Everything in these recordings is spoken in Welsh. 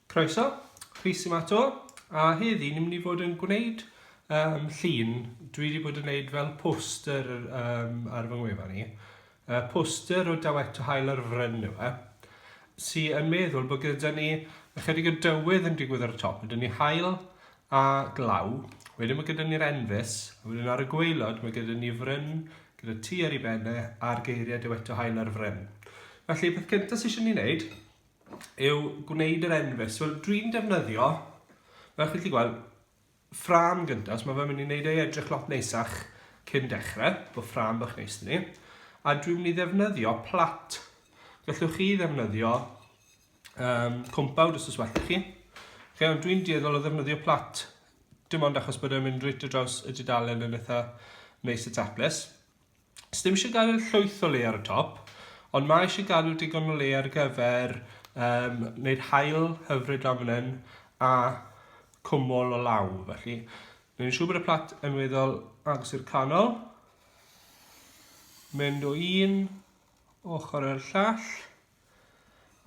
Croeso, Rhys yma to, a heddi ni'n mynd i fod yn gwneud um, llun. Dwi wedi bod yn gwneud fel poster um, ar fy ngwefa ni. Uh, poster o dawet to hael ar fryn yw e. Si yn meddwl bod gyda ni ychydig o dywydd yn digwydd ar y top. Ydyn ni hael, a glaw, wedyn mae gyda ni'r enfys, a wedyn ar y gwaelod mae gyda ni fryn gyda T ar ei ben e a'r geiriau Dyweto Hael ar fryn. Felly, peth cyntaf sydd eisiau ni wneud yw gwneud yr enfys. Wel, dwi'n defnyddio, fel chi'n gallu gweld, ffram gyntaf, so mae fe'n mynd i wneud ei edrych lot neisach cyn dechrau, bod ffram bach neis ni. A dwi'n mynd i ddefnyddio plat. Gallwch chi ddefnyddio um, cwmpawd os oes well chi. Okay, ond dwi'n dueddol o ddefnyddio plat, dim ond achos bod e'n mynd reit o draws y dudalen yn eitha neis y taples. Ys ddim eisiau gael llwyth o le ar y top, ond mae eisiau gael digon o le ar gyfer um, wneud hael hyfryd lan fan hyn a cwmol o law, felly. Ni'n siŵr bod y plat yn weddol agos i'r canol. Mynd o un ochr i'r llall.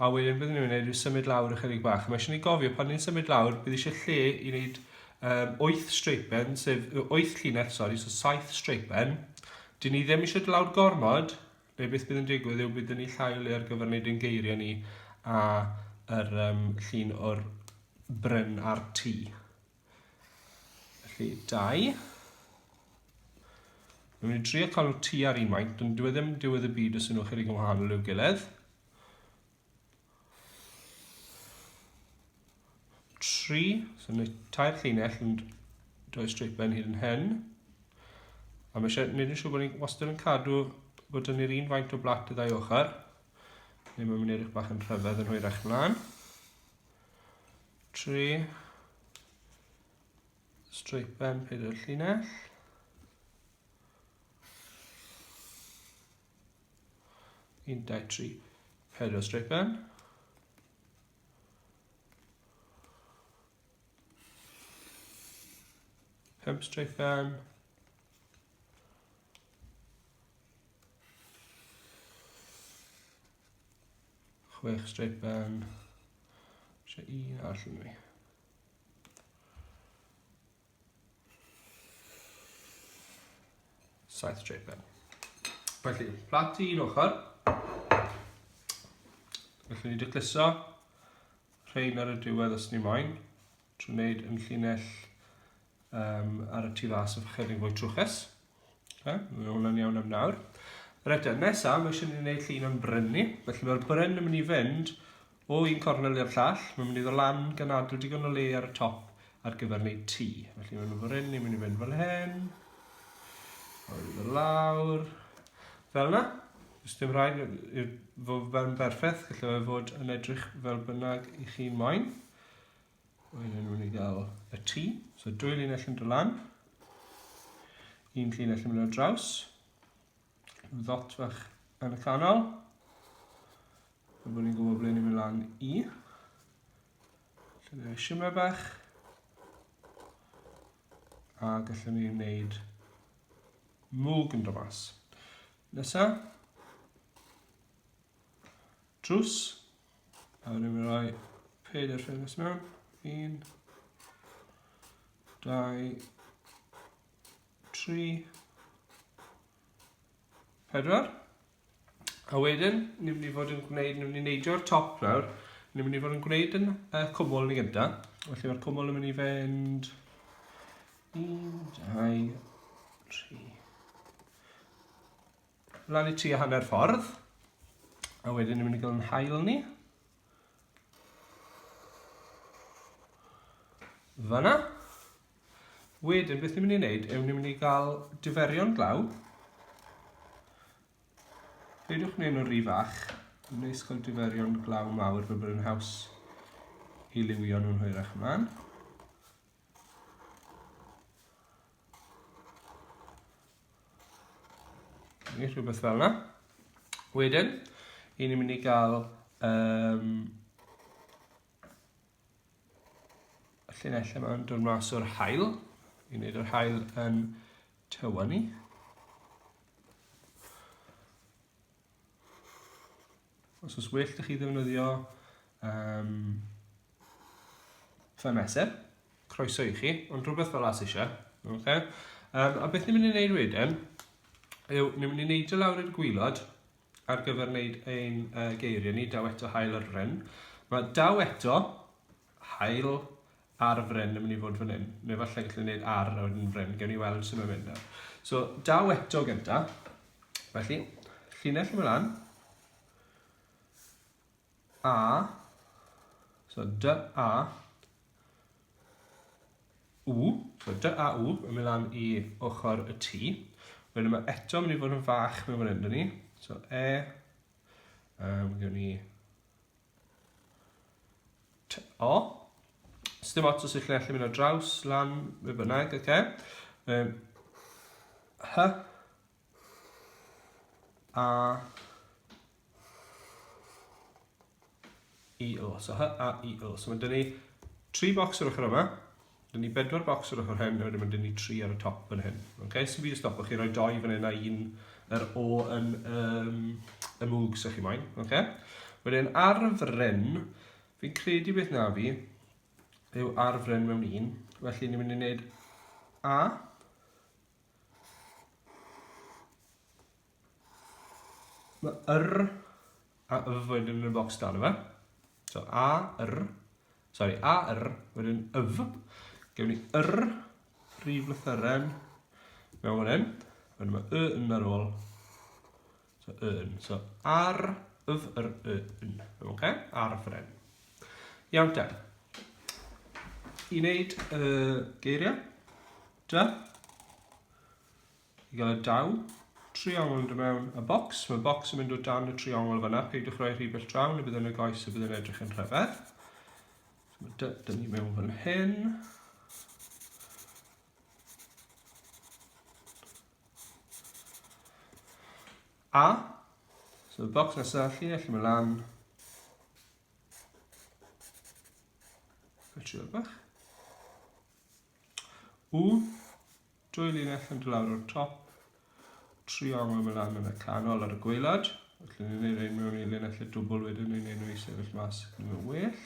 A wedyn byddwn ni'n gwneud rhyw symud lawr ychydig bach. Mae eisiau ni gofio pan ni'n symud lawr, bydd eisiau lle i wneud um, 8 streipen, sef 8 llinell, sori, so 7 streipen. Dyn ni ddim eisiau lawr gormod, neu beth bydd yn digwydd yw byddwn ni llai o le ar gyfer wneud ein geiriau ni a yr um, llun o'r bryn a'r tŷ. Felly, dau. Dwi'n mynd i trio cael nhw tu ar un maint, dwi'n dwi e ddim diwedd y byd os ydyn nhw'n chydig yn wahanol i'w gilydd. Tri, so mae tair llinell yn dwy streipen hyd yn hyn. A mae eisiau gwneud yn siŵr bod ni'n wastad yn cadw bod dyn ni'r un faint o blat y ddau ochr. Neu mae'n mynd edrych bach yn rhyfedd yn hwyrach mlaen. Tri. Streipen pyd y llinell. Un, dau, tri, pedwar streipen. Pump streipen. Chwech straight ben. Eisiau un arall yn mi. Saith straight ben. Felly, plat i un ochr. Felly ni wedi cluso rhain ar y diwedd os ni moyn. trwy wneud yn llinell um, ar y tu fas efo chydig fwy trwchus. Okay, mae hwnna'n iawn am nawr. Reit, e, nesaf, mae eisiau ni wneud llun o'n bryn ni. Felly mae'r bryn yn mynd i fynd o un cornel i'r llall. Mae'n mynd i ddod lan gan adw digon o le ar y top ar gyfer wneud tŷ. Felly mae'n bryn ni'n mynd i fynd fel hyn. Mae'n mynd i lawr. Fel yna. Os dim rhaid i'r fod fe'n berffaith, gallai fe fod yn edrych fel bynnag i chi moyn. Wedyn nhw'n ei gael y tu. So dwy linell yn dod lan. Un linell yn mynd ar draws. Ddot fach yn y canol. Fe bod ni'n gwybod ble ni'n mynd lan i. Lle ni'n simau bach. A gallwn ni'n gwneud mwg yn dod mas. Nesa. Drws. A rwy'n mynd rhoi pedair ffenest mewn. Un. Dau. Tri. Pedwar. A wedyn, ni'n mynd i fod yn gwneud, ni'n mynd i neidio'r top nawr. Ni'n mynd i fod yn gwneud yn y cwmwl ni gyda. Felly mae'r cwmwl yn mynd i fynd... Un, dau, tri. Lan i tua hanner ffordd. A wedyn ni'n mynd i gael yn hael ni. Fyna. Wedyn, beth ni'n mynd i wneud yw ni'n mynd i gael diferion glaw. Peidiwch gwneud nhw'n rhy fach. Ni'n neis cael diferion glaw mawr fel bod yn haws i liwio nhw'n hwyrach ymlaen. Neu rhywbeth fel yna. Wedyn, i ni'n mynd i gael um, y llinellau yma'n dod mas o'r hael, i wneud yr hael yn tywa ni. Os oes well da chi ddefnyddio um, fy mesur, croeso i chi, ond rhywbeth fel as eisiau. Okay? Um, a beth ni'n mynd i wneud wedyn, yw ni'n mynd i wneud y lawr i'r gwylod ar gyfer wneud ein uh, geiriau ni, daw eto hael ar ryn. Mae daw eto Haul ar fryn yn mynd i fod fan hyn. Neu falle gallu gwneud ar a wedyn fryn. Gewn ni weld sut mae'n mynd nawr. So, daw eto gynta. Felly, llinell yn mynd lan. A. So, dy a. U. So, dy a u yn mynd lan i ochr y tu. Wedyn mae eto mynd i fod yn fach mewn fan hyn, dyn ni. So, e. Um, gewn ni T o. Sdim ots os ydych chi'n gallu mynd o draws, lan, be bynnag, oce. Okay. Um, hy. A. I o. So hy a i o. So mae dyn ni tri bocs o'r ochr yma. Dyn ni bedwar bocs ar ochr hyn, a wedyn mae dyn ni tri ar y top fan hyn. Okay? So fi wedi stopo chi roi doi fan hyn a un yr o yn um, y mwg sy'ch chi moyn. Okay? Wedyn ar y fryn, fi'n credu beth na fi yw ar y fryn mewn un. Felly ni'n mynd i wneud A. Mae yr a y wedyn yn y bocs dan yma. So a yr, sorry, a yr wedyn yf. Gewn ni yr rhif lythyren mewn fan hyn. Wedyn mae y yn ar ôl. So y yn. So ar yf yr y yn. Oce? Okay? Ar y ffren. Iawn te. I wneud y uh, geiriau. Da. I gael y daw triongl yn dod mewn y bocs, mae'r bocs yn mynd o dan y triongl fanna, peidiwch roi rhy bell draw, neu bydd yn y goes a bydd yn edrych yn rhyfedd. Dyna ni mewn fan hyn. A, so y bocs nesaf, lle allu mae lan. Fe trio bach. U, Dwy linell yn dod lawr o'r top, triongl yn mynd lan yn y canol ar y gweilad. Felly ni'n gwneud ein mewn i linell y dwbl wedyn ni'n gwneud nhw i sefyll mas yn mynd well.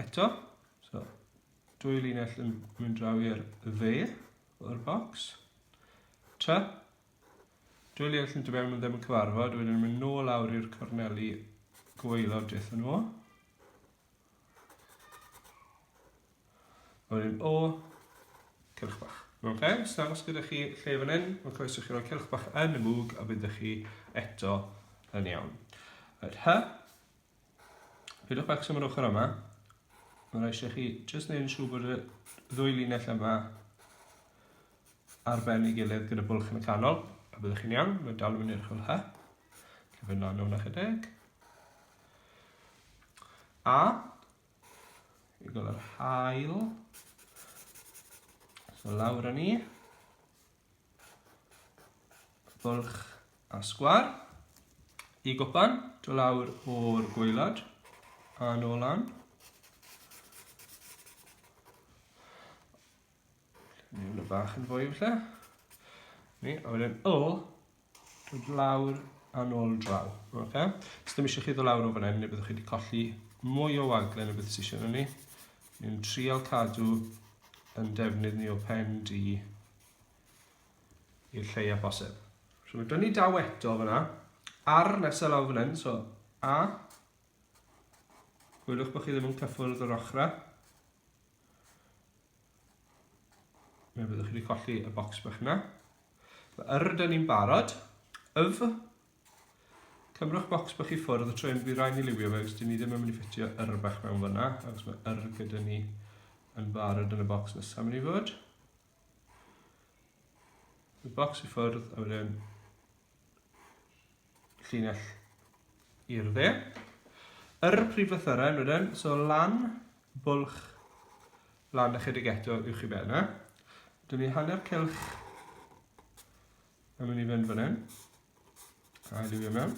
Eto, so, dwy linell yn mynd draw i'r dde o'r bocs. Ta, dwy linell yn dymewn yn ddim yn cyfarfod, wedyn ni'n mynd nôl lawr i'r corneli gweilod dethon nhw. O'r un o, cylch bach. Ok, os dangos gyda chi lle fan hyn, mae'n croeso chi roi cylch bach yn y mwg a bydd chi eto yn iawn. Yr hy, pidwch bach sy'n mynd ochr yma, mae'n eisiau chi jyst neud yn siŵr bod y ddwy linell yma ar ben ei gilydd gyda bwlch yn y canol, a byddwch chi'n iawn, mae'n dal yn mynd i'r chwil hy. Cyfyn lan o'n ychydig. A, i gael yr hael. So lawr â ni. Bwlch a sgwar. I gwpan, do lawr o'r gweilad. A nôl lan. Ni hwnna bach yn fwy falle. Ni, a wedyn o, dod lawr a nôl draw. Okay. Os ddim eisiau chi ddod lawr o fan hyn, neu byddwch chi wedi colli mwy o waglen y bydd sy'n eisiau ni. Ni'n trial cadw yn defnydd ni o pen di i'r lleiaf bosib. So mae dynnu daw eto fyna, ar nesaf lawr fan hyn, so a, gwylwch bod chi ddim yn cyffwrdd yr ochrau. Fe byddwch chi wedi colli y bocs bach yna. Mae yr ydyn ni'n barod. Yf. Cymrwch bocs bach i ffwrdd y tro hyn, bydd rhaid ni liwio fe, os dyn ni ddim yn mynd i ffitio yr bach mewn fyna, achos mae yr gyda ni yn barod yn y bocs nesaf mynd i fod. Y bocs i ffwrdd a wedyn llinell i'r dde. Yr prif lythyrau wedyn, so lan, bwlch, lan ychydig eto i'w chi ben yna. Dyn ni hanner cylch yn mynd i fynd fan hyn. A i liwio mewn.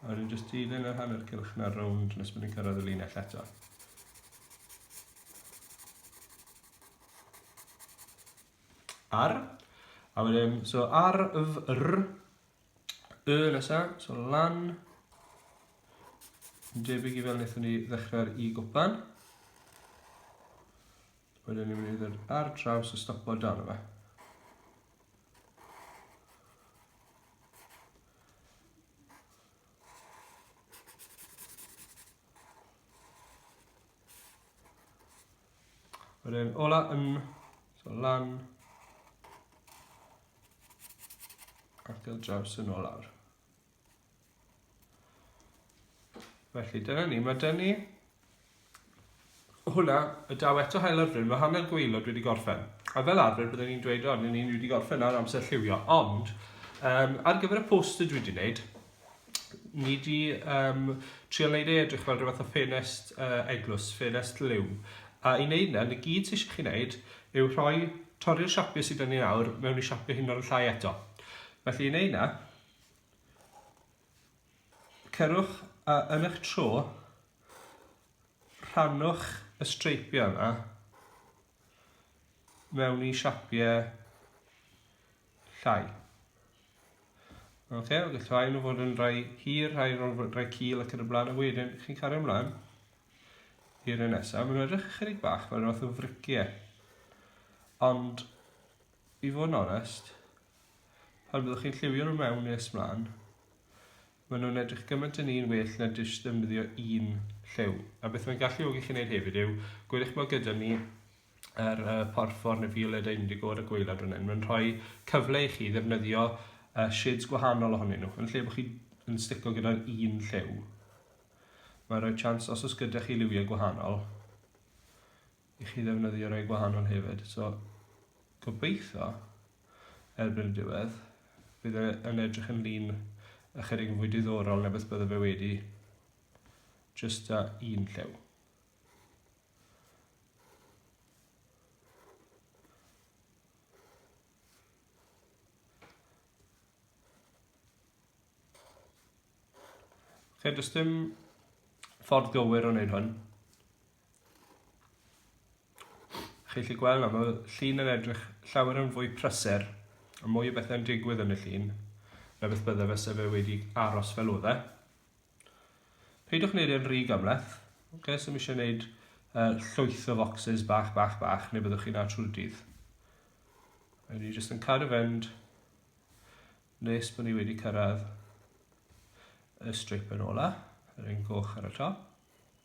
A wedyn jyst dilyn yr hanner cylch na rownd nes bod ni'n cyrraedd y linell eto. Ar. A wedyn, so ar, yf, r, y nesa, so lan. Yn debyg i fel wnaethon ni ddechrau'r i gwpan. Wedyn ni'n mynd i'r ar draws y stopo dan yma. Wedyn, ola yn, so lan, arthil draws yn ôl awr. Felly, dyna ni, mae dyn ni Hwnna, a daw eto haul ar fryn, mae hanner gwaelod wedi gorffen. A fel arfer bydden i'n dweud, o, ni ni wedi gorffen nawr, amser lliwio. Ond, um, ar gyfer y poster dwi wedi wneud, ni wedi um, trio wneud ei edrych fel rhywbeth o ffenest uh, eglwys, ffenest liw. A i wneud na, y gyd sy'n eisiau chi wneud yw rhoi torri'r siapio sydd yn ei nawr mewn i siapio hyn o'r llai eto. Felly i wneud na, Cerwch a yn eich tro, rhannwch y streipiau yma mewn i siapiau llai. Oce, okay, gall rhai nhw fod yn rhai hir, rhai nhw'n fod rhai cil ac yn y blaen, a wedyn chi'n cario ymlaen i'r un nesaf. Mae'n edrych ychydig bach fel rhywbeth o friciau. Ond I fod yn onest, pan fyddwch chi'n lliwio nhw mewn nes mlaen, maen nhw'n edrych gymaint yn un well na jyst ddefnyddio un lliw. A beth mae'n galluogi chi wneud hefyd yw, gwedwch mae gyda ni yr uh, porffor neu violet indigo ar y gweilad fan hyn. Mae'n rhoi cyfle i chi ddefnyddio uh, shades gwahanol ohonyn nhw, yn lle bod chi yn stico gyda'r un lliw. Mae'n rhoi chance, os oes gyda chi liwiau gwahanol, i chi ddefnyddio rei gwahanol hefyd. So, gobeithio, erbyn y diwedd, bydd e yn edrych yn lun ychydig yn fwy diddorol na beth bydde fe wedi just a un llew. Fe does dim ffordd gywir o wneud hwn. Chi'n gallu gweld nawr, mae'r llun yn edrych llawer yn fwy prysur, a mwy o bethau'n digwydd yn y llun, na beth bydde fe se fe wedi aros fel oedd e. Peidiwch wneud e'n rhy gymleth, okay, so mi eisiau gwneud uh, llwyth o foxes bach, bach, bach, neu byddwch chi'n na trwy'r dydd. A ni jyst yn cadw fynd nes bod ni wedi cyrraedd y strip yn ola, yr un goch ar y top.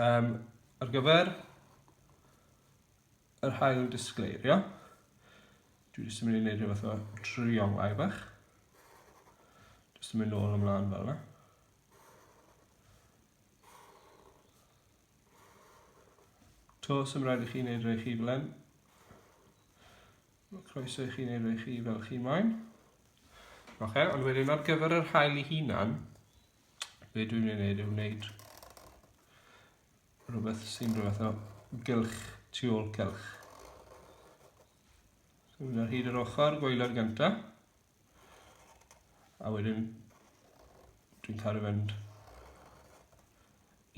Yym, ar gyfer yr hael disgleirio, dwi jyst yn mynd i wneud rhywbeth o triolau bach. Jyst yn mynd nôl ymlaen fel yna. To, sy'n rhaid i chi wneud rhai chi fel hyn. Mae croeso i chi wneud rhai chi fel chi moyn. Oce, okay, ond wedyn ar gyfer yr hael i hunan, be dwi'n ei wneud yw wneud rhywbeth sy'n rhywbeth o gylch, tu ôl cylch. So mynd ar hyd yr ochr gwaelod gynta, a wedyn dwi'n cael ei fynd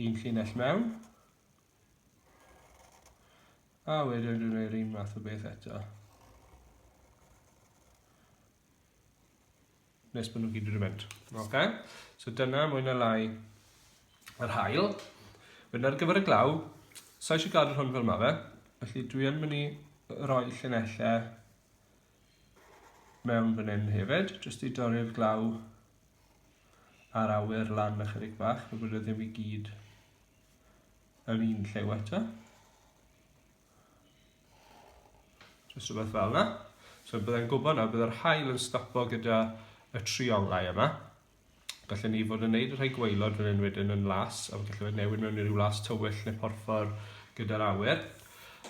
un llinell mewn, a wedyn dwi'n gwneud un math o beth eto. nes bod nhw gyd wedi mynd. Okay? So dyna mwy na lai yr hael. Wedyn ar gyfer y glaw, sa'i eisiau gadw'r hwn fel mae fe, felly dwi yn mynd i roi llunellau mewn fan hyn hefyd, jyst i dorri'r glaw a'r awyr lan ychydig bach, fe bod e ddim i gyd yn un llew eto. Just rhywbeth fel yna. So byddai'n gwybod nawr, byddai'r hael yn stopo gyda y trionglau yma. Gallwn ni fod yn neud y rhai gweilod fan hyn wedyn yn las, a gallwn ni newid mewn i rhyw las tywyll neu porffor gyda'r awyr.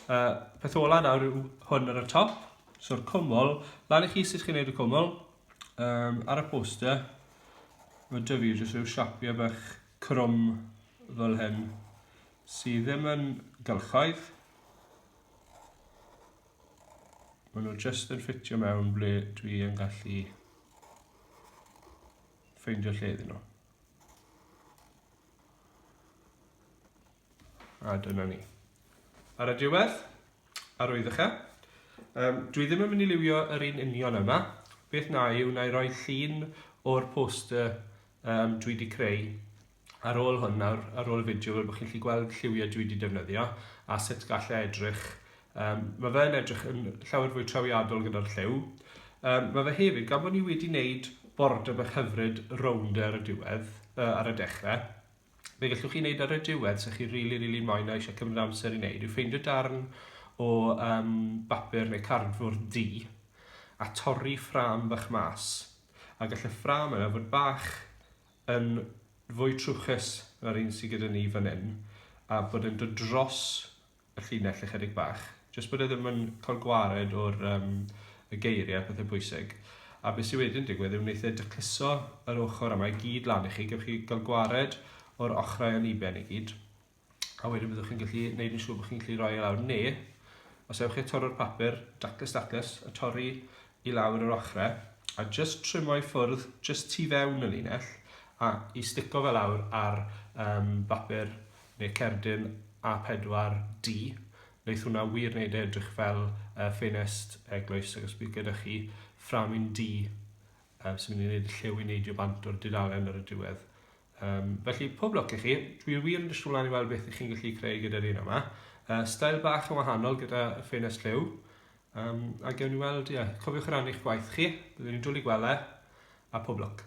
Uh, peth ola nawr yw hwn ar y top, so'r cwmwl, lan i chi sut chi'n neud y cwmwl, um, ar y poster, mae dyfu jyst rhyw siapiau bach crwm fel hyn, sydd ddim yn gylchoedd. Maen nhw jyst yn ffitio mewn ble dwi yn gallu ffeindio lle iddyn nhw. A dyna ni. Ar y diwedd, arwyddochr, um, dwi ddim yn mynd i liwio yr un union yma. Beth na yw, na i roi llun o'r poster um, dwi wedi creu Ar ôl hwn nawr, ar ôl y fideo fel bod chi'n gallu gweld lliwiau dwi wedi defnyddio a sut gallai e edrych. Um, mae fe'n edrych yn llawer fwy trawiadol gyda'r lliw. Um, mae fe hefyd, gan bod ni wedi wneud border bach hyfryd rownd e ar y diwedd, uh, ar y dechrau, fe gallwch chi wneud ar y diwedd sy'ch chi'n rili, really, rili really moyn a eisiau cymryd amser i wneud yw ffeindio darn o um, bapur neu cardfwrdd di a torri ffram bach mas. A gall y ffram yna fod bach yn fwy trwchus na'r un sy gyda ni fan hyn, a bod e'n dod dros y llinell ychydig bach, jyst bod e ddim yn cael gwared o'r um, y geiriau a pethau pwysig. A beth sy'n wedyn digwydd yw wneud e dycluso yr ochr yma i gyd lan i chi, gywch chi gael gwared o'r ochrau aniben i gyd. a wedyn byddwch chi'n gallu gwneud yn siŵr bod chi'n gallu rhoi e lawr neu os ewch chi torro'r papur daclus daclus a torri i lawr yr ochrau a just trimo i ffwrdd just tu fewn y linell a i stico fe lawr ar um, bapur neu cerdyn A4D wneud hwnna wir wneud e edrych fel uh, ffenest eglwys ac os bydd gyda chi fframyn D um, sy'n mynd i wneud y llew i neidio bant o'r dudalen ar y diwedd Um, felly, pob lwc i chi. Dwi wir yn disgwyl mlaen i weld beth ych chi'n gallu creu gyda'r un yma. Uh, stael bach yn wahanol gyda ffenest lliw. Um, a gewn ni weld, ie, yeah, cofiwch rannu eich gwaith chi. Byddwn ni'n dwlu gwele, a pob lwc.